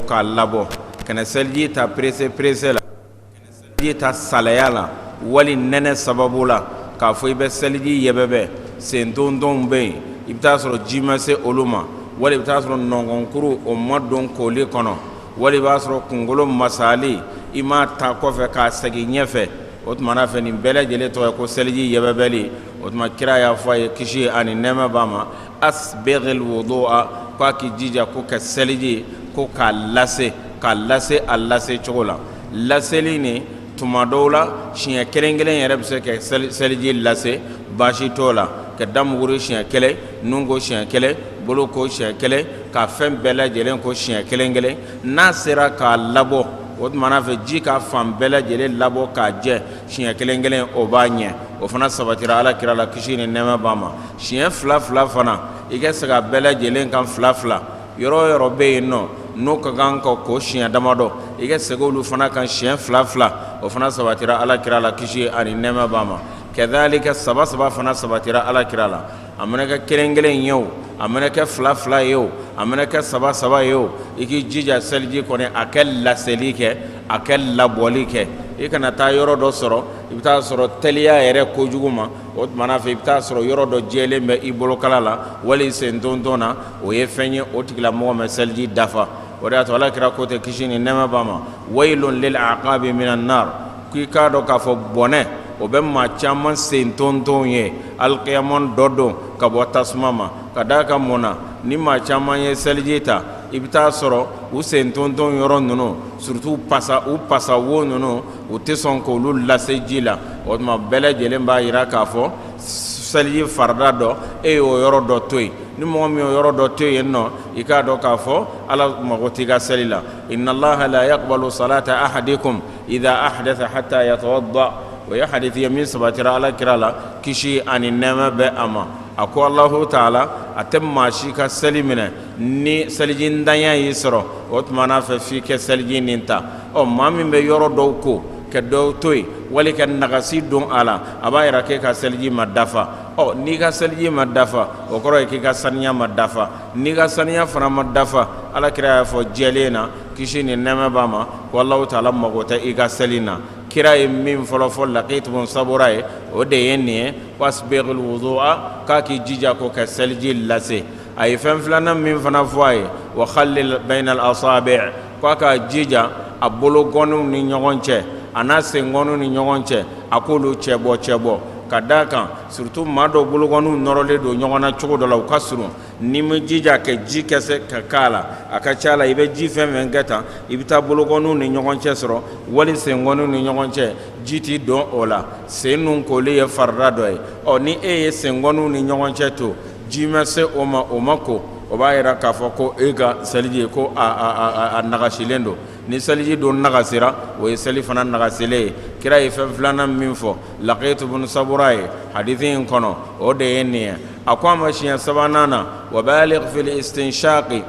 k'a labɔ kana seliji ta perese perese la kana seliji ta salaya la wali nɛnɛ sababu la k'a fɔ i bɛ seliji yɛbɛbɛ sentontonw bɛ yen i bɛ taa sɔrɔ ji ma se olu ma wali i bɛ taa sɔrɔ nɔnkɔnkuru o ma don kooli kɔnɔ wali i b'a sɔrɔ kunkolo masali i m'a ta kɔfɛ k'a segin ɲɛfɛ o tuma na fɛ nin bɛɛ lajɛlen tɔgɔ ye ko seliji yɛbɛbɛli o tuma kira y'a fɔ a ye kisi ani nɛɛma b'a ma asbighil wudu'a k'a k'i jija ko ka seliji ko k'a lase k'a lase a lase cogo la laseli nin tuma dɔw la siɲɛ kelen kelen yɛrɛ bɛ se ka seliji lase baasi t'o la ka da muguri siɲɛ kelen nun ko siɲɛ kelen bolo ko siɲɛ kelen ka fɛn bɛɛ lajɛlen ko siɲɛ kelen kelen n'a sera k'a labɔ o tuma na fɛ ji ka fan bɛɛ lajɛlen labɔ k'a jɛ siɲɛ kelen kelen o b'a ɲɛ o fana sabatira ala kira la kisi ni nɛɛma b'a ma Siɲɛ fila fila fana i ka segin a bɛɛ lajɛlen kan fila fila yɔrɔ yɔrɔ bɛ yen nɔ n'o ka kan ka ko siɲɛ damadɔ i ka segin olu fana kan siɲɛ fila fila o fana sabatira ala kira la kisi ani nɛɛma b'a ma kazalika saba saba fana sabatira ala kira la a mana kɛ kelen kelen ye o a mana kɛ fila fila ye o a mana kɛ saba saba ye o i k'i jija seliji kɔni a kɛ laseli kɛ a kɛ labɔli kɛ i kana taa yɔrɔ dɔ sɔrɔ i bɛ taa sɔrɔ teliya yɛrɛ kojugu ma o tuma na fɛ i bɛ taa sɔrɔ yɔrɔ dɔ jalen bɛ i bolokala la wali sentonton na o ye fɛn ye o tigilamɔgɔ ma seliji dafa o de y'a to ala kira ko tɛ kisi ni nɛɛma b'a ma waylun lil aqabi minan nar k'i k'a dɔn k'a fɔ bɔnɛ o bɛ maa caman sentonton ye alikiyama dɔ don ka bɔ tasuma ma ka d'a kan mun na ni maa caman ye seliji ta i bɛ taa sɔrɔ u sentonton yɔrɔ ninnu surtout u pasa wo ninnu u tɛ sɔn k'olu lase ji la o tuma bɛɛ lajɛlen b'a jira k'a fɔ seliji farida dɔ e y'o yɔrɔ dɔ to yen ni mɔgɔ min y'o yɔrɔ dɔ to yen nɔ i k'a dɔn k'a fɔ ala mago t'i ka seli la inna allaha la yaqbalu salata ahadikum iza ahdasa hatta yatawadda o ye hadisi ye min sabatira ala kira la kisi ani nɛɛma bɛ a ma a ko alahu taala a tɛ maa si ka seli minɛ ni selijintanya y'i sɔrɔ o tuma n'a fɛ f'i kɛ seliji nin ta ɔ maa min bɛ yɔrɔ dɔw ko ka dɔw to yen wali ka nagasi don a la a b'a jira k'e ka seliji ma dafa ɔ n'i ka seliji ma dafa o kɔrɔ ye k'i ka saniya ma dafa n'i ka saniya fana ma dafa ala kira y'a fɔ jɛlen na kisi ni nɛɛma b'a ma ko alahu taala mago tɛ i ka seli na kira ye min fɔlɔ fɔ lakit bun sabura ye o de ye nin ye wasbighil wudu'a k'a k'i jija ko ka seliji lase a ye fɛn filanan min fana fɔ a ye wa khalil bayina al asaabi'i k'a ka jija a bologɔninw ni ɲɔgɔn cɛ a n'a sengɔninw ni ɲɔgɔn cɛ a k'olu cɛbɔ cɛbɔ ka d'a kan surtout maa dɔw bologɔninw nɔrɔlen don ɲɔgɔn na cogo dɔ la u ka surun n'i m'i jija ka ji kɛ se ka k'a la a ka ca la i bɛ ji fɛn fɛn kɛ tan i bɛ taa bologɔninw ni ɲɔgɔn cɛ sɔrɔ wali sengɔninw ni ɲɔgɔn cɛ ji tɛ don o la sennu koli ye farida dɔ ye ɔ ni e ye sengɔninw ni ɲɔgɔn cɛ to ji ma se o ma o ma ko o b'a yira k'a fɔ ko e ka seliji ko a nagasilen don ni seliji dun nagasira o ye seli fana nagasilen ye kira ye fɛn filanan min fɔ Laqit bun Sabura ye hadisi in kɔnɔ o de ye nin ye a ko a ma siɲɛ sabanan na wa balig fil istinshaqi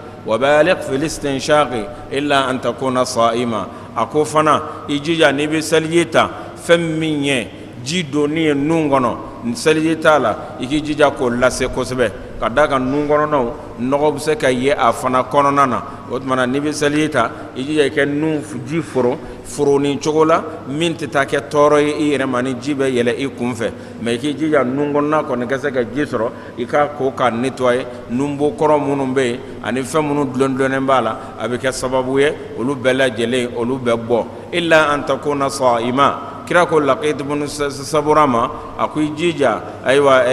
illa an takuna sa'ima a ko fana i jija n'i bɛ seliji ta fɛn min ye ji donni ye nun kɔnɔ seliji ta la i k'i jija k'o lase kosɛbɛ ka d'a kan nun kɔnɔnaw nɔgɔ bɛ se ka ye a fana kɔnɔna na o tuma na n'i bɛ seliji ta i jija i kɛ nun ji foro foroni cogo la min tɛ taa kɛ tɔɔrɔ ye i yɛrɛ ma ni ji bɛ yɛlɛ i kun fɛ mais i k'i jija nun kɔnɔna kɔni ka se ka ji sɔrɔ i k'a ko k'a nettoyer nunbo kɔrɔ minnu bɛ yen ani fɛn minnu dulondulonnen b'a la a bɛ kɛ sababu ye olu bɛɛ lajɛlen olu bɛ bɔ illa an takuna sa'ima kira ko Laqit bun Sabura ma a ko i jija ayiwa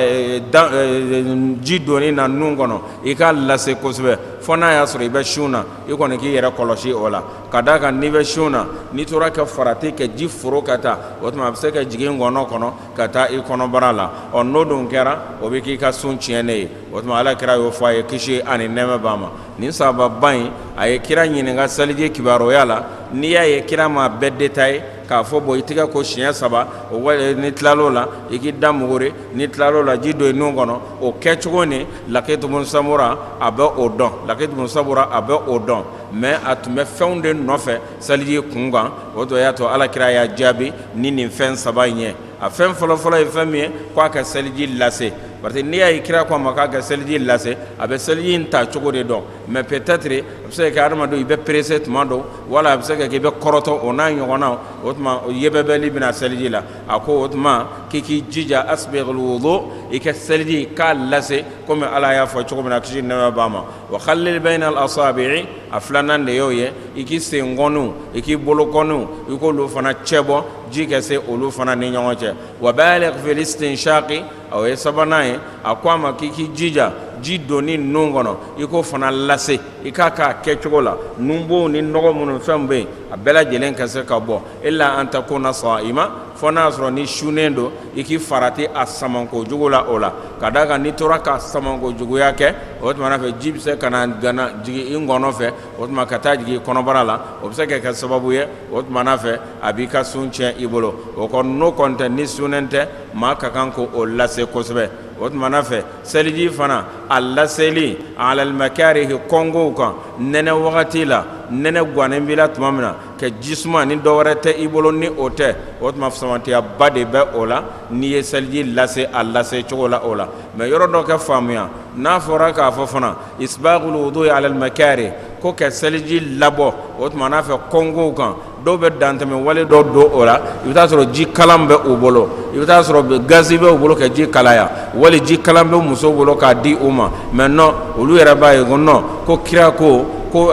ji donni na nun kɔnɔ i k'a lase kosɛbɛ fo n'a y'a sɔrɔ i bɛ sun na i kɔni k'i yɛrɛ kɔlɔsi o la ka d'a kan n'i bɛ sun na n'i tora ka farati ka ji foro ka taa o tuma a bɛ se ka jigin ngɔnɔ kɔnɔ ka taa i kɔnɔbara la ɔ n'o dun kɛra o bɛ k'i ka sun tiɲɛnen ye o tuma ala kira y'o fɔ a ye kisi ani nɛɛma b'a ma Nin sahaba in a ye kira ɲininka seliji kibaruya la n'i y'a ye kira m'a bɛɛ détaillé k'a fɔ bon i tɛgɛ ko siɲɛ saba o n'i tilal'o la i k'i da muguri n'i tilal'o la ji don i nun kɔnɔ o kɛcogo ni Laqit bun Sabura a bɛ o dɔn Laqit bun Sabura a bɛ o dɔn mais a tun bɛ fɛnw de nɔfɛ seliji kunkan o de y'a to ala kira y'a jaabi ni nin fɛn saba in ye a fɛn fɔlɔ fɔlɔ ye fɛn min ye k'a ka seliji lase parce que n'i y'a ye kira k'a ma k'a ka seliji lase a bɛ seliji in ta cogo de dɔn mais peut-être a bɛ se ka kɛ hadamaden i bɛ pressé tuma dɔ wala a bɛ se ka kɛ i bɛ kɔrɔtɔ o n'a ɲɔgɔnnaw o tuma yɛbɛbɛli bɛ na seliji la a ko o tuma k'i k'i jija asbigil wudu i ka seliji k'a lase komi Ala y'a fɔ cogo min na kisi ni nɛɛma b'a ma wa khalil bayina al asaabi'i a filanan de y'o ye i k'i senkɔniw i k'i bolokɔniw i k'olu fana cɛbɔ ji ka se olu fana ni ɲɔgɔn cɛ wa baligh fil istinshaqi o ye sabanan ye a ko a ma k'i k'i jija ji donni nun kɔnɔ i k'o fana lase i k'a k'a kɛcogo la nunbow ni nɔgɔ minnu fɛn bɛ yen a bɛɛ lajɛlen ka se ka bɔ illa an takuna sa'ima fɔ n'a y'a sɔrɔ n'i sunnen don i k'i farati a samanko jugu la o la ka d'a kan n'i tora k'a samanko juguya kɛ o tuma fɛ ji bɛ se ka na gana jigin i ngɔɔnɔ fɛ o tuma ka taa jigin kɔnɔbara la o bɛ se ka kɛ sababu ye o tuma n'a fɛ a b'i ka sun tiɲɛ i bolo o kɔni n'o kɔni tɛ n'i sunnen tɛ maa ka kan k'o lase kosɛbɛ o tuma n'a fɛ seliji fana a laseli a alal makarihi kɔnkow kan nɛnɛ wagati la nɛnɛ gannen b'i la tuma min na ka jisuma ni dɔwɛrɛ tɛ i bolo ni o tɛ o tuma samantiyaba de bɛ o la n'i ye seliji lase a lase cogo la o la mais yɔrɔ dɔ kɛ faamuya n'a fɔra k'a fɔ fana isbaghul wudu'i alal makarihi ko ka seliji labɔ o tuma n'a fɛ kɔnkow kan dɔw bɛ dantɛmɛ wale dɔ don o la i bɛ t'a sɔrɔ ji kalan bɛ u bolo i bɛ t'a sɔrɔ gazi bɛ u bolo ka ji kalaya wali ji kalan bɛ muso bolo k'a di u ma mais non olu yɛrɛ b'a ye ko non ko kira ko ko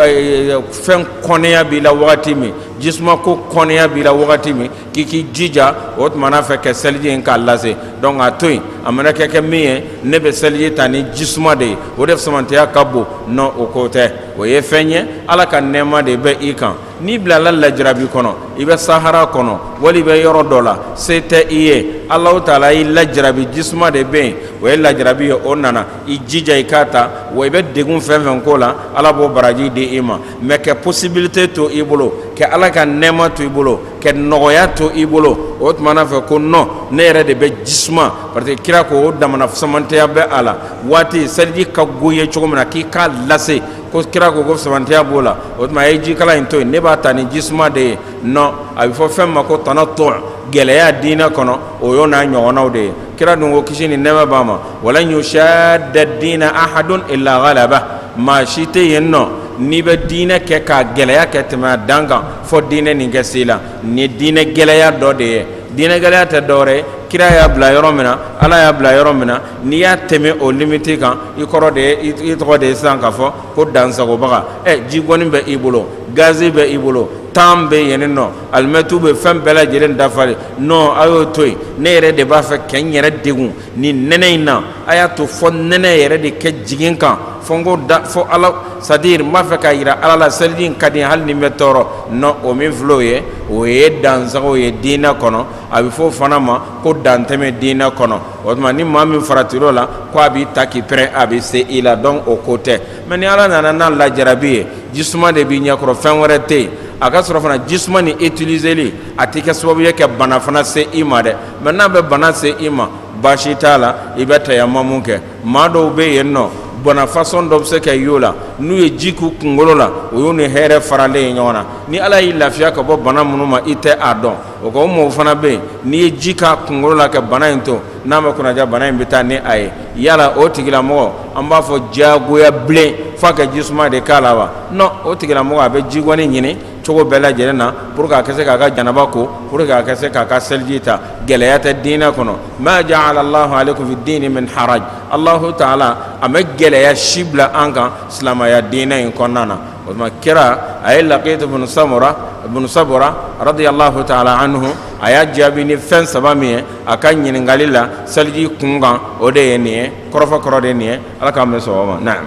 fɛn kɔnɛya b'i la wagati min jisuma ko kɔnɛya b'i la wagati min k'i k'i jija o tuma na fɛ kɛ seliji in k'a lase donc a to yen a mana kɛ kɛ min ye ne bɛ seliji ta ni jisuma de ye o de samantɛya ka bon non o ko tɛ o ye fɛn ye ala ka nɛɛma de bɛ i kan n'i bilala lajarabi kɔnɔ i bɛ sahara kɔnɔ wali i bɛ yɔrɔ dɔ la se tɛ i ye alahu taala y'i lajarabi jisuma de bɛ yen o ye lajarabi ye o nana i jija i k'a ta wa i bɛ degun fɛn fɛn k'o la ala b'o baraji di i ma mais kɛ possibilité to i bolo kɛ ala ka nɛɛma to i bolo ka nɔgɔya to i bolo o tuma fɛ ko non ne yɛrɛ de bɛ jisuma parce que kira ko o damana samantɛya bɛ a la waati seliji ka go ye cogo min na k'i k'a lase ko kira ko ko samantɛya b'o la o tuma a ye jikalan in to yen ne b'a ta ni jisuma de ye non a bɛ fɔ fɛn ma ko tanattu gɛlɛya diinɛ kɔnɔ o y'o n'a ɲɔgɔnnaw de ye kira dun ko kisi ni nɛɛma b'a ma wa lan yushadda diina ahadun illa ghalaba maa si tɛ yen nɔ n'i bɛ diinɛ kɛ k'a gɛlɛya kɛ tɛmɛ a dan kan fɔ diinɛ nin kɛ se i la nin ye diinɛ gɛlɛya dɔ de ye diinɛ gɛlɛya tɛ dɔwɛrɛ kira y'a bila yɔrɔ min na ala y'a bila yɔrɔ min na n'i y'a tɛmɛ o limite kan i kɔrɔ de ye i tɔgɔ de ye sisan k'a fɔ ko dansagobaga ɛ ji gɔni bɛ i bolo gazi bɛ i bolo tan bɛ yen nɔ alimɛtu bɛ fɛn bɛɛ lajɛlen dafalen non a y'o to yen ne yɛrɛ de b'a fɛ kɛ n yɛrɛ degun ni nɛnɛ in na a y'a to fɔ nɛnɛ yɛrɛ de kɛ jigin kan fɔ n ko da fɔ ala c'est-à-dire n b'a fɛ k'a jira ala la seliji in ka di hali ni n bɛ tɔɔrɔ non o min filɛ o ye o ye dansago ye diinɛ kɔnɔ a bɛ fɔ o fana ma ko dantɛmɛ diinɛ kɔnɔ o tuma ni maa min farati o la ko a b'i ta k'i pɛrɛn a bɛ se i la donc o ko tɛ mais ni ala nana n'a lajarabi ye jisuma de b'i ɲɛkɔrɔ fɛn wɛrɛ tɛ yen a ka sɔrɔ fana jisuma ni utiliseli a tɛ kɛ sababu ye ka bana fana se i ma dɛ mais n'a bɛ bana se i ma baasi t'a la i bɛ tayamamu kɛ maa dɔw bɛ yen nɔ bana façon dɔ bɛ se ka y'o la n'u ye ji k'u kunkolo la o y'u ni hɛrɛ faralen ye ɲɔgɔn na ni ala y'i lafiya ka bɔ bana minnu ma i tɛ a dɔn o ka o mɔgɔw fana bɛ yen n'i ye ji k'a kunkolo la ka bana in to n'a ma kunnaja bana in bɛ taa ni a ye yala o tigilamɔgɔ an b'a fɔ diyagoya bilen f'a ka jisuma de k'a la wa non o tigilamɔgɔ a bɛ jigoni ɲini cogo bɛɛ lajɛlen na pour que a ka se k'a ka janaba ko pour que a ka se k'a ka seliji ta gɛlɛya tɛ diinɛ kɔnɔ ma ja'ala Allahu alaikum fi diini min haraj Allahu taala a ma gɛlɛya si bila an kan silamaya diinɛ in kɔnɔna na o tuma kira a ye Laqit ibn Sabura radiyallahu taala anhu a y'a jaabi ni fɛn saba min ye a ka ɲininkali la seliji kunkan o de ye nin ye kɔrɔfɔ kɔrɔ de ye nin ye Ala k'an bɛn sawaba ma naam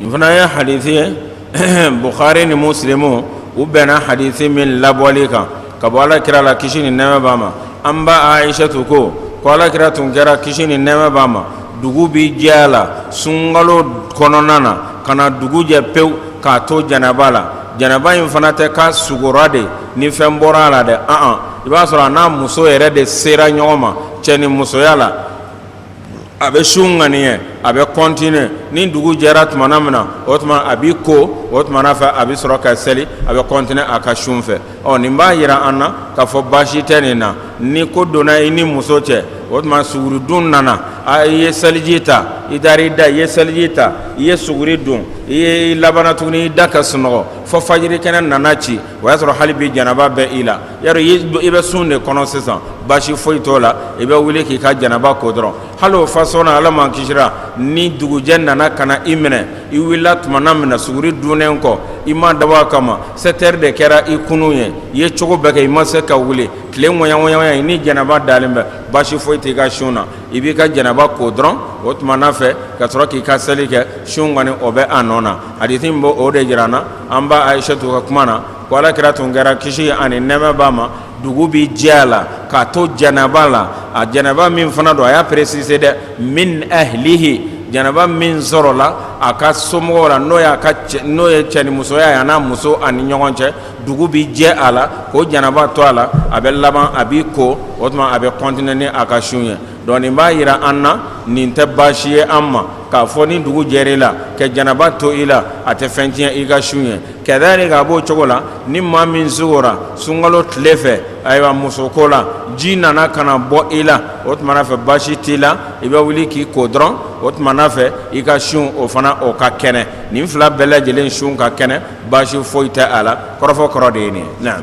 nin fana ye hadisi ye bukhari ni muslimu u bɛnna hadisi min labɔli kan ka bɔ ala kira la kisi ni nɛɛma b'a ma an ba aishatu ko ko ala kira tun kɛra kisi ni nɛɛma b'a ma dugu bi jɛ a la sunkalo kɔnɔna na ka na dugu jɛ pewu k'a to janaba la janaba in fana tɛ k'a sugora de ni fɛn bɔra a la dɛ an i b'a sɔrɔ a n'a muso yɛrɛ de sera ɲɔgɔn ma cɛ ni musoya la a bɛ sun ŋaniya a bɛ continuer ni dugu jɛra tumana min na o tuma a b'i ko o tumana fɛ a bɛ sɔrɔ ka seli a bɛ continuer a ka sun fɛ ɔ nin b'a jira an na k'a fɔ baasi tɛ nin na ni ko donna i ni muso cɛ o tuma suguri dun nana a i ye seliji ta i taara i da i ye seliji ta i ye suguri dun i ye labana tuguni i da ka sunɔgɔ fɔ fajiri kɛnɛ nana ci o y'a sɔrɔ hali bi janaba bɛ i la yɔrɔ i bɛ sun de kɔnɔ sisan baasi foyi t'o la i bɛ wuli k'i ka janaba ko dɔrɔn hali o façon na ala m'an kisira ni dugujɛ nana ka na i minɛ i wulila tumana min na suguri dunnen kɔ i ma dabɔ a kama sept heures de kɛra i kunun ye i ye cogo bɛɛ kɛ i ma se ka wuli tile ŋɔɲɔgɔnya ye ni janaba dalen bɛ baasi foyi t'i ka sun na i b'i ka janaba ko dɔrɔn o tumana fɛ ka sɔrɔ k'i ka seli kɛ sun kɔni o bɛ a nɔ na hadisi in b'o o de jira an na an ba aishatu ka kuma na ko ala kira tun kɛra kisi ani nɛɛma b'a ma dugu bɛ jɛ a la k'a to janaba la a janaba min fana don a y'a préciser dɛ min ahlihi janaba min sɔrɔla a ka somɔgɔw la n'o y'a ka n'o ye cɛnimusoya ye a n'a muso ani ɲɔgɔn cɛ dugu bɛ jɛ a la k'o janaba to a la a bɛ laban a b'i ko o tuma a bɛ continuer ni a ka sun ye Donc nin b'a jira an na nin tɛ baasi ye an ma k'a fɔ ni dugu jɛra i la ka janaba to i la a tɛ fɛn tiɲɛ i ka sun ye kadhalika a b'o cogo la ni maa min sugora sunkalo tile fɛ ayiwa muso ko la ji nana ka na bɔ i la o tuma na fɛ baasi t'i la i bɛ wuli k'i ko dɔrɔn o tuma na fɛ i ka sun o fana o ka kɛnɛ nin fila bɛɛ lajɛlen sun ka kɛnɛ baasi foyi tɛ a la kɔrɔfɔ kɔrɔ de ye nin ye naam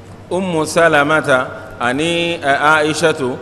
umu salamata ani ayisatu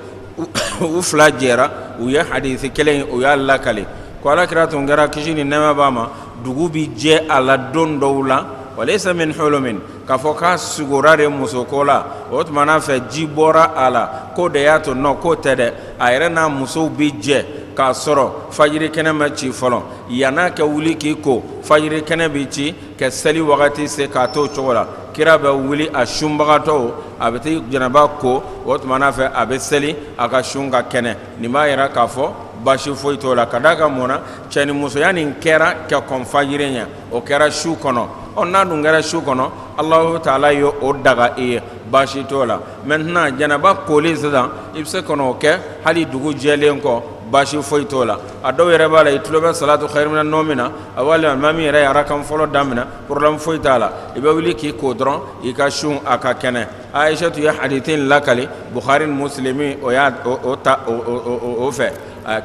u fila jɛra u ye hadisi kelen u y'a lakali ko ala kira tun kɛra kisi ni nɛma b'a ma dugu bɛ jɛ a la don dɔw la wa layisa min hulumin k'a fɔ k'a sugora de musoko la o tuma n'a fɛ ji bɔra a la k'o de y'a to non k'o tɛ dɛ a yɛrɛ n'a musow bɛ jɛ k'a sɔrɔ fajiri kɛnɛ ma ci fɔlɔ yan'a ka wuli k'i ko fajiri kɛnɛ bɛ ci ka seli wagati se k'a to o cogo la kira bɛ wuli a sunbagatɔ a bɛ taa janaba ko o tuma n'a fɛ a bɛ seli a ka sun ka kɛnɛ nin b'a jira k'a fɔ baasi foyi t'o la ka d'a kan mun na cɛ ni musoya nin kɛra ka kɔn fajiri ɲɛ o kɛra su kɔnɔ ɔ n'a dun kɛra su kɔnɔ alahu taala ye o daga i ye baasi t'o la maintenant janaba koli sisan i bɛ se ka n'o kɛ hali dugu jɛlen kɔ baasi foyi t'o la a dɔw yɛrɛ b'a la i tulo bɛ salatu khayirun mina nawmi na a wali maa min yɛrɛ ye arakan fɔlɔ daminɛ problème foyi t'a la i bɛ wuli k'i ko dɔrɔn i ka sun a ka kɛnɛ ayisatu ye hadisi in lakali bukari musilimu o y'a ta o fɛ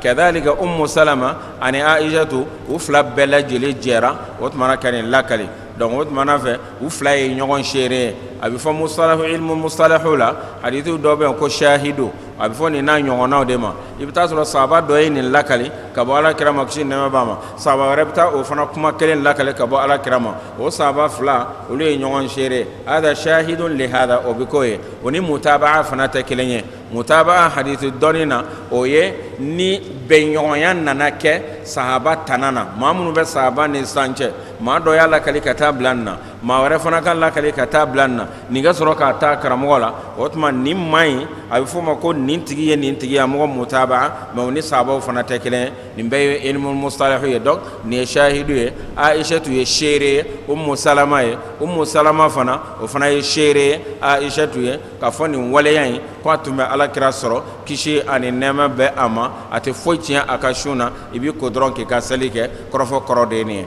kadhalika umu salama ani ayisatu u fila bɛɛ lajɛlen jɛra o tuma na ka nin lakali donc o tuma fɛ u fila ye ɲɔgɔn seere ye a bɛ fɔ mustalahu ilmu mustalahu la hadisi dɔ bɛ yen ko shahidu a bɛ fɔ nin n'a ɲɔgɔnnaw de ma i bɛ t'a sɔrɔ sahaba dɔ ye nin lakali ka bɔ ala kira ma kisi nɛma b'a ma sahaba wɛrɛ bɛ taa o fana kuma kelen lakali ka bɔ ala kira ma o sahaba fila olu ye ɲɔgɔn seere hadha shahidun li hadha o bɛ k'o ye o ni mutabaa fana tɛ kelen ye mutabaa hadisi dɔnni na o ye ni bɛnɲɔgɔnya nana kɛ sahaba tana na maa minnu bɛ sahaba ni sisan cɛ maa dɔ y'a lakali ka taa bila nin na maa wɛrɛ fana k'a lakali ka taa bila nin na nin ka sɔrɔ k'a ta a karamɔgɔ la o tuma nin man ɲi a bɛ f'o ma ko nin tigi ye nin tigiya mɔgɔ mutabaa mais o ni sahabaw fana tɛ kelen ye nin bɛɛ ye ilmu mustalahu ye donc nin ye shahidu ye ayisatu ye seere ye umu salama ye umu salama fana o fana ye seere ye ayisatu ye k'a fɔ nin waleya in ko a tun bɛ alakira sɔrɔ kisi ani nɛma bɛ a ma a tɛ foyi tiɲɛ a ka sun na i b'i ko dɔrɔn k'i ka seli kɛ kɔrɔfɔ kɔrɔ de ye nin ye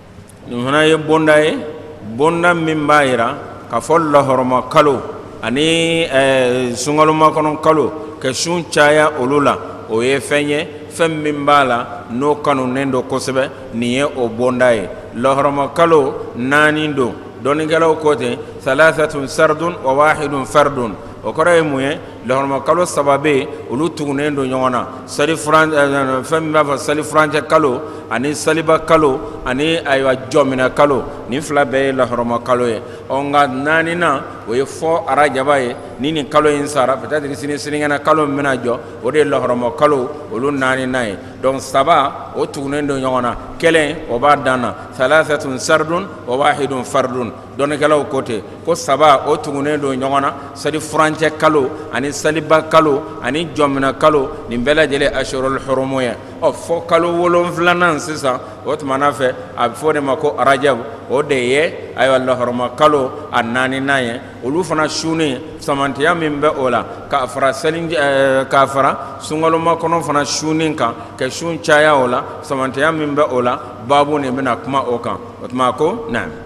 nin fana ye bonda ye bonda min b'a jira k'a fɔ lahɔrɔma kalo ani sunkalo makɔnɔ kalo ka sun caya olu la o ye fɛn ye fɛn min b'a la n'o kanunen don kosɛbɛ nin ye o bonda ye lahɔrɔma kalo naani don dɔnnikɛlaw ko ten salasatun saridun wa wahidun faridun o kɔrɔ ye mun ye lahɔrɔma kalo saba bɛ olu tugunnen don ɲɔgɔn na sali fɛn min b'a fɔ salifurancɛ kalo ani saliba kalo ani ayiwa jɔmina kalo nin fila bɛɛ ye lahɔrɔma kalo ye ɔ nka naaninan o ye fo arajaba ye ni nin kalo in sara peut-être sini siniɲɛna kalo min bɛna jɔ o de ye lahɔrɔma kalo olu naaninan ye donc saba o tugunen don ɲɔgɔn na kelen o b'a dan na salasatun sardun wa wahidun fardun dɔnnikɛlaw ko ten ko saba o tugunnen don ɲɔgɔn na salifurancɛ kalo ani saliba kalo ani jɔmina kalo nin bɛɛ lajɛlen ashurul hurumu ye ɔ fo kalo wolonfilanan sisan o tumana fɛ a bɛ fɔ o de ma ko arajabu o de ye ayiwa lahɔrɔma kalo a naaninan ye olu fana sunni samatiya min bɛ o la ka fara seli ka fara sunkalomakɔnɔ fana sunni kan ka sun caya o la samatiya min bɛ o la baabu nin bɛna kuma o kan o tuma ko na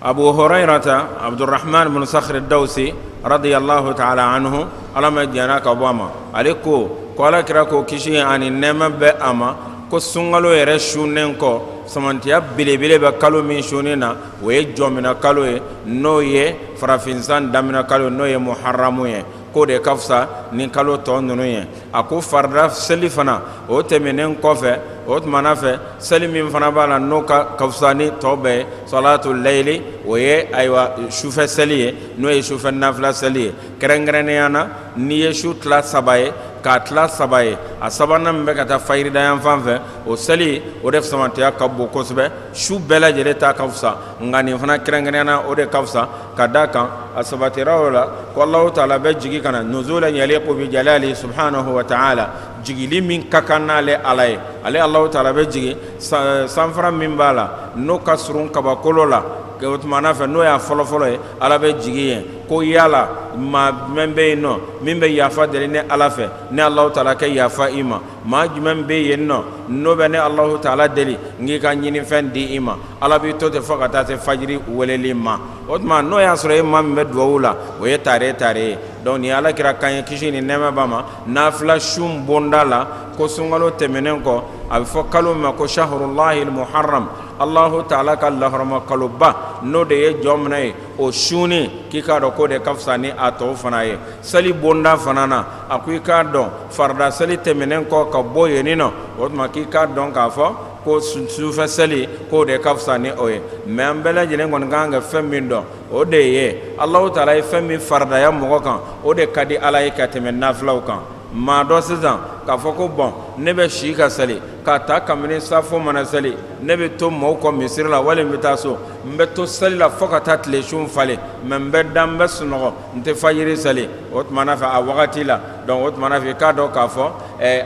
abu hurayirata abudurahamani bunu sakiri dawusi radiyalahu taala anhu ala ma jɛnna ka bɔ a ma ale ko ko ala kira ko kisi ani nɛɛma bɛ a ma ko sunkalo yɛrɛ sunnen kɔ samatiya belebele bɛ kalo min sunni na o ye jɔmina kalo ye n'o ye farafinsan damina kalo n'o ye muharamu ye k'o de ka fisa ni kalo tɔ ninnu ye a ko farida seli fana o tɛmɛnen kɔfɛ o tumana fɛ seli min fana b'a la n'o ka ka fisa ni tɔ bɛɛ ye salatu layili o ye ayiwa sufɛ seli ye n'o ye sufɛ nafila seli ye kɛrɛnkɛrɛnnenya na n'i ye su tila saba ye k'a tila saba ye a sabanan min bɛ ka taa fajirida yan fan fɛ o seli o de samatiya ka bon kosɛbɛ su bɛɛ lajɛlen ta ka fisa nka nin fana kɛrɛnkɛrɛnya na o de ka fisa ka da a kan a sabatira o la ko alahu taala bɛ jigin ka na nuzulan yaliku bijalalihi subuhanahu wa taala jigili min ka kan n'ale ala ye ale alahu taala bɛ jigin sanfara min b'a la n'o ka surun kabakolo la o tumana fɛ n'o y'a fɔlɔ fɔlɔ ye ala bɛ jigin yen ko yala maa mɛn bɛ yen nɔ min bɛ yafa deli ne ala fɛ ne alahu taala kɛ yafa i ma maa jumɛn bɛ yen nɔ n'o bɛ ne Alahu taala deli n k'i ka ɲininfɛn di i ma Ala b'i to ten fo ka taa se fajiri weleli ma o tuma n'o y'a sɔrɔ e maa min bɛ dugawu la o ye taare taare ye donc nin ye Alakira kan ye kisi ni nɛɛma b'a ma naafila sun bonda la ko sunkalo tɛmɛnen kɔ a bɛ fɔ kalo min ma ko saharulahil muharam Alahu taala ka lahɔrɔma kaloba n'o de ye jɔminɛ ye o sunni k'i k'a dɔn k'o de ka fisa ni a tɔw fana ye sali bonda fana na a ko i k'a dɔn Farida seli tɛmɛnen kɔ ka bɔ yen nɔ o tuma k'i k'a dɔn k'a fɔ ko sufɛ seli k'o de ka fisa ni o ye mais an bɛɛ lajɛlen kɔni ka kan ka fɛn min dɔn o de ye Alahu taala ye fɛn min faridaya mɔgɔ kan o de ka di Ala ye ka tɛmɛ nafilaw kan maa dɔ sisan k'a fɔ ko bon ne bɛ si ka seli k'a ta kabini safo mana seli ne bɛ to mɔgɔw kɔ misiri la wali n bɛ taa so n bɛ to seli la fo ka taa tile sun falen mais n bɛ da n bɛ sunɔgɔ n tɛ fajiri seli o tuma na fɛ a wagati la Dɔnku o tuma na fɛ i k'a dɔn k'a fɔ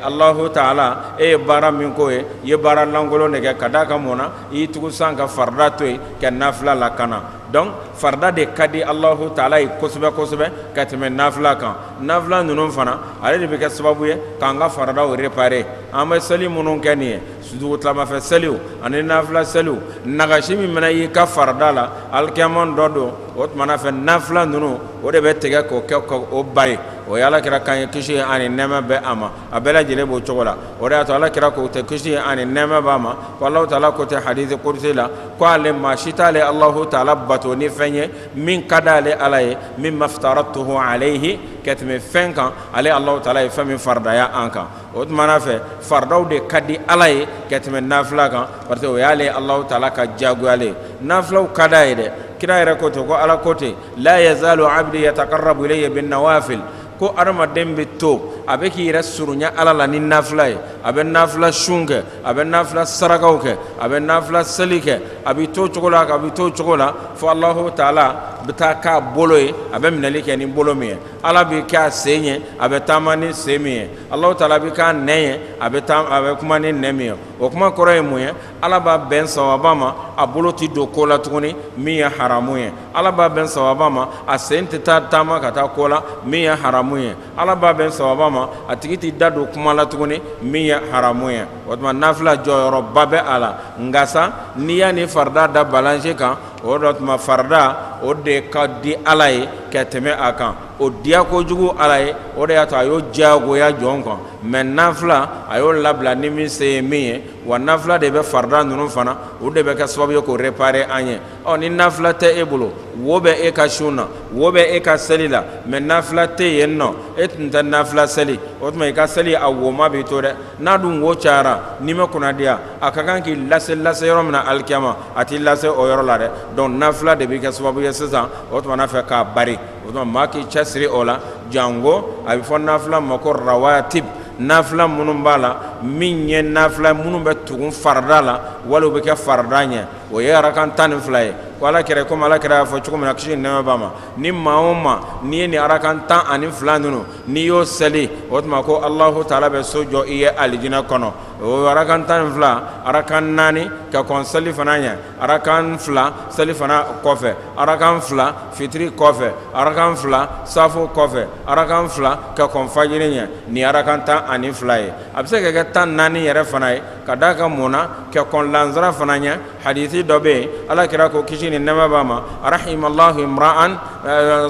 alahu taala e ye baara min k'o ye i ye baara lankolon de kɛ ka d'a kan mun na i y'i tugu san ka farida to yen ka nafila lakana dɔnku farida de ka di alahu taala ye kosɛbɛ kosɛbɛ ka tɛmɛ nafila kan nafila ninnu fana ale de bɛ kɛ sababu ye k'an ka farada wo réparer an bɛ seli minnu kɛ nin ye Su dugutilama fɛ seliw ani nafila seliw nagasi min mana y'i ka farada la alikiyama don don o tuma na fɛ nafila ninnu o de bɛ tigɛ k'o kɛ ka o bari o ye ala kira kan ye kisi ani nɛma bɛ a ma a bɛɛ lajɛlen b'o cogo la o y'a to ala kira ko ten kisi ani nɛma b'a ma ko alahu taala ko ten hadisu kudusi la ko ale maa si t'ale alahu taala bato ni fɛn ye min ka di ale ala ye min ma iftaradtuhu alayhi ka tɛmɛ fɛn kan ale alahu taala ye fɛn min faridaya an kan o tuma na fɛ faradaw de ka di ala ye ka tɛmɛ nafila kan parce que o y'ale alahu taala ka diyagoyalen ye nafilaw ka di a ye dɛ kira yɛrɛ ko ten ko ala ko ten la yazalu abdi yatakarrabu ilayya bin nawafil ko hadamaden bɛ to a bɛ k'i yɛrɛ surunya ala la ni nafila ye a bɛ nafila sun kɛ a bɛ nafila sarakaw kɛ a bɛ nafila seli kɛ a bɛ to cogo la a bɛ to cogo la fo alahu taala bɛ taa k'a bolo ye a bɛ minɛli kɛ ni bolo min ye ala bɛ kɛ a sen ye a bɛ taama ni sen min ye alahu taala bɛ k'a nɛn ye a bɛ kuma ni nɛn min ye o kuma kɔrɔ ye mun ye ala b'a bɛn sawaba ma a bolo tɛ don ko la tuguni min ye haramu ye ala b'a bɛn sawaba ma a sen tɛ taa taama ka taa ko la min ye haramu ye ala b'a bɛn sawaba ma a tigi tɛ da don kuma la tuguni min ye haramu ye o tuma nafila jɔyɔrɔba bɛ a la nka sa n'i y'a ni farida da balance kan o de tuma farida o de ka di ala ye ka tɛmɛ a kan o diya kojugu ala ye o de y'a to a y'o diyagoya jɔn kan mais nafila a y'o labila ni min se ye min ye wa nafila de bɛ farida ninnu fana o de bɛ kɛ sababu ye k'o réparer an ye ɔ ni nafila tɛ e bolo wo bɛ e ka sun na wo bɛ e ka seli la mais nafila tɛ yen nɔ e tun tɛ nafila seli o tuma i ka seli a woma b'i to dɛ n'a dun wo cayara n'i ma kunnadiya a ka kan k'i lase lase yɔrɔ min na alikiyama a t'i lase o yɔrɔ la dɛ donc nafila de bɛ kɛ sababu ye sisan o tuma n'a fɛ k'a bari o tuma maa k'i cɛsiri o la janko a bɛ fɔ nafila ma ko rawatib nafila minnu b'a la min ye nafila minnu bɛ tugun farida la wali u bɛ kɛ farida ɲɛ o ye arakan tan ni fila ye ko ala kɛra komi ala kɛra y'a fɔ cogo min na kisi ni nɛɛma b'a ma ni maa o maa n'i ye nin arakan tan ani fila ninnu n'i y'o seli o tuma ko alahu taala bɛ so jɔ i ye alijinɛ kɔnɔ o arakan tan ni fila arakan naani ka kɔn selifana ɲɛ arakan fila selifana kɔfɛ arakan fila fitiri kɔfɛ arakan fila safo kɔfɛ arakan fila ka kɔn fajiri ɲɛ nin arakan tan ani fila ye a bɛ se ka kɛ tan naani yɛrɛ fana ye ka d'a kan mun na ka kɔn lansara fana ɲɛ hadisi dɔ bɛ yen ala kɛra ko kisi ni nɛɛma b'a ma rahimallahu imra'an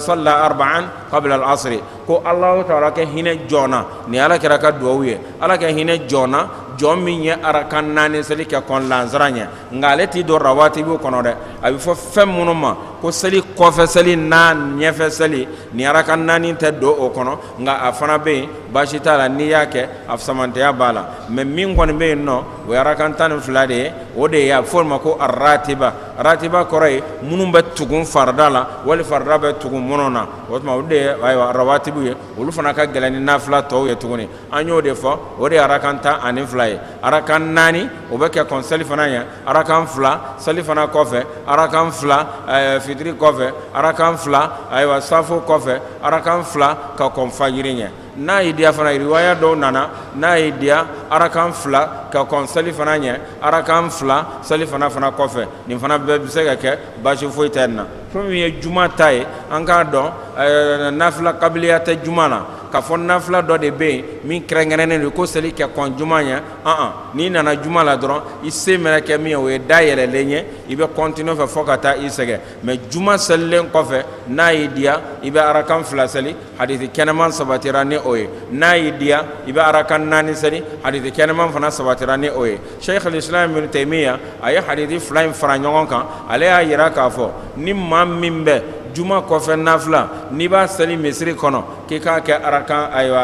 salla arba'an qabla al-asri ko alahu taala kɛ hinɛ jɔn na nin ala kɛra ka dugawu ye ala kɛ hinɛ jɔn na jɔn min ye arakan naani seli kɛ kɔn lansara ɲɛ nka ale tɛ don rawatibu kɔnɔ dɛ a bɛ fɔ fɛn minnu ma ko seli kɔfɛ seli ni ɲɛfɛ seli nin arakan naani tɛ don o kɔnɔ nka a fana bɛ yen baasi t'a la n'i y'a kɛ a samantɛya b'a la mɛ min kɔni bɛ yen nɔ o ye arakan tan ni fila de ye o de ye a bɛ fɔ o ma ko aratiba ratiba kɔrɔ ye minnu bɛ tugun farida la wali farida bɛ tugun minnu na o tuma olu de ye ayiwa rawatibu ye olu fana ka gɛlɛn ni nafila tɔw ye tuguni an y'o de fɔ o de ye arakan tan ani fila ye arakan naani o bɛ kɛ kɔn selifana ɲɛ arakan fila selifana kɔfɛ arakan fila eh, fitiri kɔfɛ arakan fila ayiwa safo kɔfɛ arakan fila ka kɔn fajiri ɲɛ N'a y'i diya fana riwaya dɔw nana n'a y'i diya arakan fila ka kɔn selifana ɲɛ arakan fila selifana fana kɔfɛ nin fana bɛɛ bɛ se ka kɛ baasi foyi tɛ nin na fɛn min ye juma ta ye an k'a dɔn ɛɛ nafila kabiliya tɛ juma na k'a fɔ nafila dɔ de bɛ yen min kɛrɛnkɛrɛnnen don ko seli kɛ kɔn juma ɲɛ an n'i nana juma la dɔrɔn i se mɛnɛ kɛ min ye o ye da yɛlɛlen ye i bɛ continuer fɛ fɔ ka taa i sɛgɛn mɛ juma selilen kɔfɛ n'a y'i diya i bɛ arakan fila seli hadisi kɛnɛman sabatira ni o ye n'a y'i diya i bɛ arakan naani seli hadisi kɛnɛman fana sabatira ni o ye sheikh al-islam ibn taymiya a ye hadisi fila in fara ɲɔgɔn kan ale y'a yira k'a fɔ ni maa min bɛ juma kɔfɛ nafila n'i b'a seli misiri kɔnɔ k'i k'a kɛ arakan ayiwa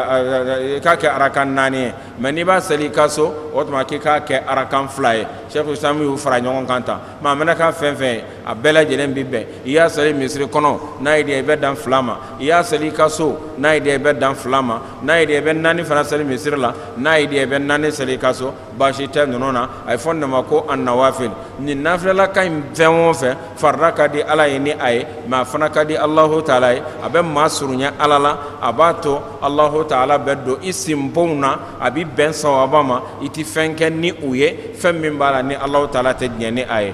i k'a kɛ arakan naani ye mɛ n'i b'a seli i ka so o tuma k'i k'a kɛ arakan fila ye sheikh al-islam y'u fara ɲɔgɔn kan tan maa mɛnɛ k'a fɛn fɛn ye a bɛɛ lajɛlen bɛ bɛn i y'a seli misiri kɔnɔ n'a y'i diya i bɛ dan fila ma i y'a seli i ka so n'a y'i diya i bɛ dan fila ma n'a y'i diya i bɛ naani fana seli misiri la n'a y'i diya i bɛ naani seli i ka so baasi tɛ ninnu na a ye fɔ ne ma ko annawafil nin nafila ka in fɛn o fɛn farida ka di ala ye ni a ye mais a fana ka di Allahu taala ye a bɛ maa surunya ala la a b'a to Allahu taala bɛ don i sinbonw na a bɛ bɛn sawaba ma i tɛ fɛn kɛ ni u ye fɛn min b'a la ni Allahu taala tɛ diɲɛ ni a ye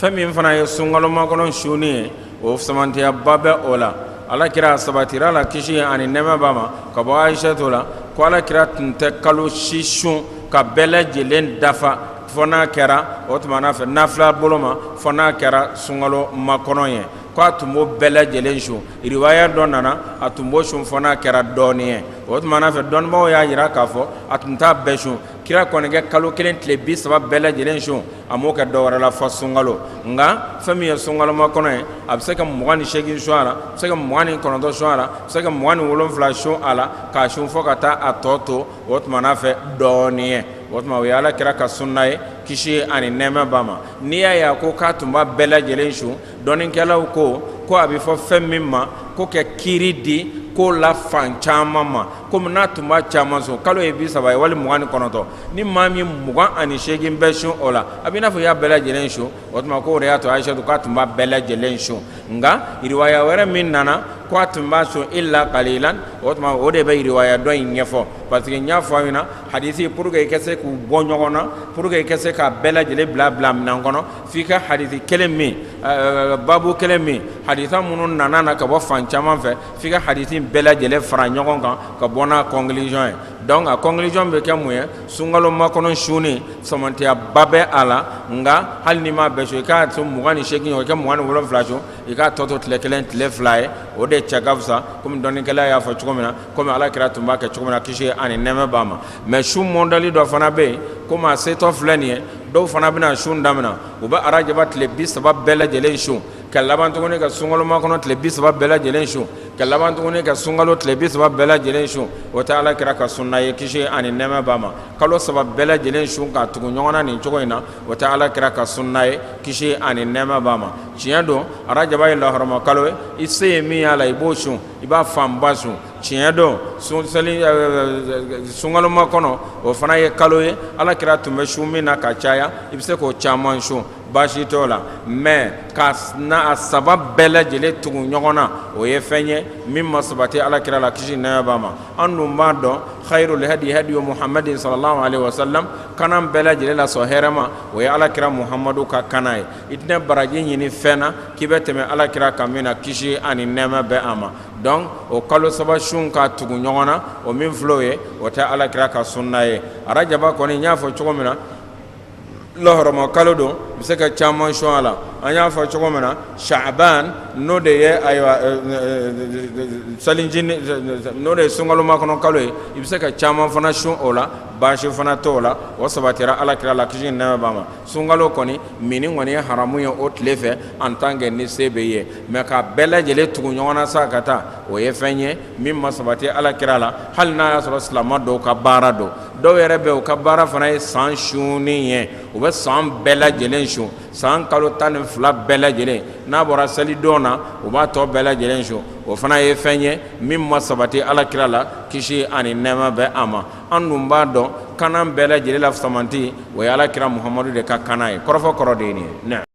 fɛn min fana ye sunkalo makɔnɔ sunni ye o samantiyaba bɛ o la ala kira sabatira la kisi ani nɛɛma b'a ma ka bɔ ayisatu la ko ala kira tun tɛ kalo si sun k'a bɛɛ lajɛlen dafa fɔ n'a kɛra o tuma n'a fɛ nafila bolo ma fɔ n'a kɛra sunkalo makɔnɔ ye ko a tun b'o bɛɛ lajɛlen sun riwaya dɔ nana a tun b'o sun fɔ n'a kɛra dɔɔnin ye o tuma n'a fɛ dɔnnibaaw y'a jira k'a fɔ a tun t'a bɛɛ sun Kira kɔni ka kalo kelen tile bi saba bɛɛ lajɛlen sun a m'o kɛ dɔ wɛrɛ la fɔ sunkalo nka fɛn min ye sunkalo makɔnɔ ye a bɛ se ka mugan ni segin sun a la bɛ se ka mugan ni kɔnɔntɔn sun a la bɛ se ka mugan ni wolonwula sun a la k'a sun fɔ ka taa a tɔ to o tuma n'a fɛ dɔɔnin ye o tuma o ye ala kira ka sunna ye kisi ani nɛɛma b'a ma n'i y'a ye a ko k'a tun b'a bɛɛ lajɛlen sun dɔnnikɛlaw ko ko a bɛ fɔ fɛn min ma ko ka kiri di ko la fan caman ma komi n'a tun b'a caman sun kalo ye bi saba ye wali mugan ni kɔnɔntɔn ni maa min mugan ani seegin bɛɛ sun o la a bɛ i n'a fɔ i y'a bɛɛ lajɛlen sun o tuma k'o de y'a to ayisatu k'a tun b'a bɛɛ lajɛlen sun nka riwaya wɛrɛ min nana ko a tun b'a sun ila kalilan o tuma o de bɛ riwaya dɔ in ɲɛfɔ parce que n y'a fɔ a ɲɛna hadisi pour que i ka se k'u bɔ ɲɔgɔn na pour que i ka se k'a bɛɛ lajɛlen bila bila minɛn kɔnɔ F'i ka hadisi kelen min babu kelen min hadisi minnu nana ka bɔ fan caman fɛ f'i ka hadisi bɛɛ lajɛlen fara ɲɔgɔn kan ka bɔ n'a conclusion ye donc a conclusion bɛ kɛ mun ye sunkalo makɔnɔ sunni samantiyaba bɛ a la nka hali n'i m'a bɛɛ sun i k'a to mugan ni segin o kɛ mugan ni wolo wolonwula sun i k'a tɔ to tile kelen tile fila ye o de cɛ ka fisa kɔmi dɔnnikɛla y'a fɔ cogo min na kɔmi ala kira tun b'a kɛ cogo min na kisi ani nɛɛma b'a ma mais sun mɔdɛli dɔ fana bɛ yen kɔmi a setɔ filɛ nin ye dɔw fana bɛna sun daminɛ u bɛ arajaba tile bi saba bɛɛ lajɛlen sun ka laban tuguni ka sunkalo makɔnɔ tile bi saba bɛɛ lajɛlen sun ka laban tuguni ka sunkalo tile bi saba bɛɛ lajɛlen sun o tɛ ala kira ka sunna ye kisi ani nɛɛma b'a ma kalo saba bɛɛ lajɛlen sun ka tugu ɲɔgɔn na nin cogo in na o tɛ ala kira ka sunna ye kisi ani nɛɛma b'a ma tiɲɛ don arajaba ye lahɔrɔma kalo ye i se ye min y'a la i b'o sun i b'a fanba sun tiɲɛ don sunkaloma kɔnɔ o fana ye kalo ye ala kira tun bɛ sun min na ka caya i bɛ se k'o caman sun baasi t'o la mais ka na a saba bɛɛ lajɛlen tugu ɲɔgɔn na o ye fɛn ye min ma sabati ala kira la kisi nɛɛma b'a ma an dun b'a dɔn khairul hadi hadiyu muhamadin sallallahu alaihi wasallam kana bɛɛ lajɛlen la sɔn hɛrɛma o ye ala kira muhamadu ka kana ye i tɛna baraji ɲini fɛn na k'i bɛ tɛmɛ ala kira kan min na kisi ani nɛɛma bɛ a ma donc o kalo saba sun ka tugu ɲɔgɔn na o min filɛ o ye o tɛ ala kira ka sunna ye arajaba kɔni n y'a fɔ cogo min na lahɔrɔma kalo don bɛ se ka caman sun a la an y'a fɔ cogo min na sabaan n'o de ye ayiwa salijini n'o de ye sunkaloma kɔnɔ kalo ye i bɛ se ka caman fana sun o la baasi fana t'o la o sabatira ala kira la kisi nɛɛma b'a ma sunkalo kɔni minni kɔni ye haramu ye o tile fɛ en tant que ni se bɛ ye mais ka bɛɛ lajɛlen tugu ɲɔgɔn na sa ka taa o ye fɛn ye min ma sabati ala kira la hali n'a y'a sɔrɔ silamɛ dɔw ka baara don dɔw yɛrɛ bɛ u ka baara fana ye san sunni ye u bɛ san bɛɛ lajɛlen sun san kalo tan ni fila bɛɛ lajɛlen n'a bɔra selidon na u b'a tɔ bɛɛ lajɛlen sun o fana ye fɛn ye min ma sabati ala kira la kisi ani nɛɛma bɛ a ma an dun b'a dɔn kana bɛɛ lajɛlen la fisamante, o ye alakira Muhamadu de ka kana ye, kɔrɔfɔ kɔrɔ de ye nin ye.